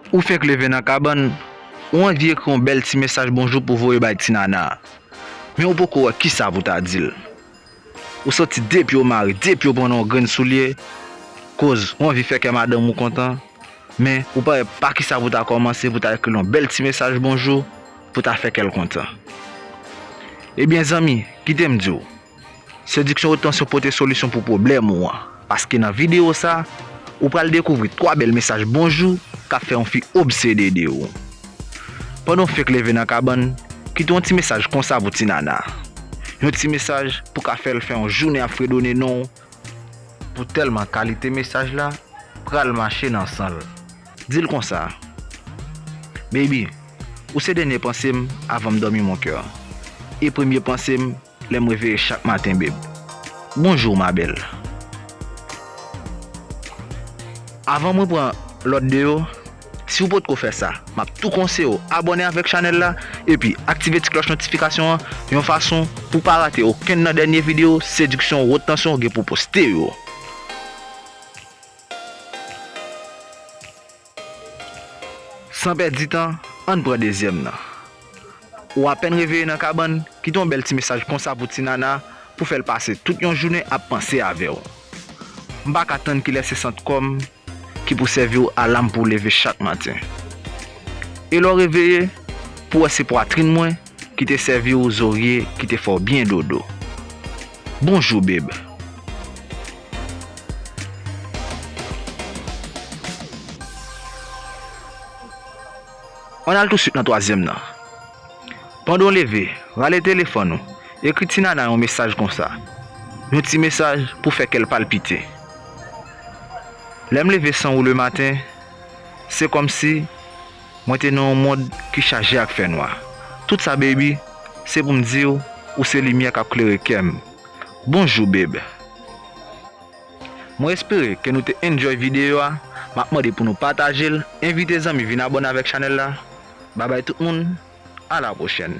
Ou fenk leve nan kabann, ou anvi ekri yon bèl ti mesaj bonjou pou w voye bay ti nana a. Men ou poko wè kisa pou w ta di l. Ou santi depi w mare, depi w pran nan yon grenn soulye, koz ou anvi fè kè madanm ou kontan, men ou pa wè pa kisa pou w ta kòmanse pou w ta ekri l yon bèl ti mesaj bonjou pou w ta fè kè l kontan. Ebyen zanmi, kite m di w, Sediksyon Retansiyon pote solisyon pou pwoblèm ou an, paske nan videyo sa, ou pral dekouvri 3 bèl mesaj bonjou k ap fè yon fi obsede de ou. Pandan w fenk leve nan kabann, kite yon ti mesaj konsa pou ti nana. Yon ti mesaj pou ka fè l fè yon jounen ap fredone non w, pou tèlman kalite mesaj la pral mache nan san l. Di l konsa, Baby, ou se dènye panse m avan m dòmi mon cœur, e premye panse m Lèm reveye chak maten beb. Bonjour ma belle. Avan mwen pran lòt 2 yo, si ou potko fè sa, map tou konseye'w abòne avèk chanèl la epi aktive ti klòch notifikasyon an yon fason pou pa rate okenn nan dènye video sediksyon wot tansyon gen pou poste yo. San pèdi tan, ann pran dezyèm nan. Ou apèn reveye nan kabann, kite yon bèl ti mesaj konsa pou ti nana pou fè l pase tout yon jounen ap panse avè w. M pa ka tann kilè se sant kò m ki pou sèvi w alam pou w leve chak maten. E lè w reveye, pou wè se pwatrin mwen ki te sèvi w zorye ki te fè w byen dodo. Bonjour babe. Ann al touswit nan twazyèm nan. Pandan w leve, rale telefòn ou, ekri ti nana yon mesaj konsa. Yon ti mesaj pou fè kè l palpite. Lè m leve san ou le maten, se kòmsi. Mwen te nan yon mond ki chaje ak fènwa. Tout sa baby, se pou m di w, ou se limyè k ap klere kè m. Bonjou babe. Mwen espere ke nou te enjoy videyo a, m ap mande pou nou pataje l, envite zanmi vin abòne avèk chanèl la. Babay tout moun, a la pwochèn.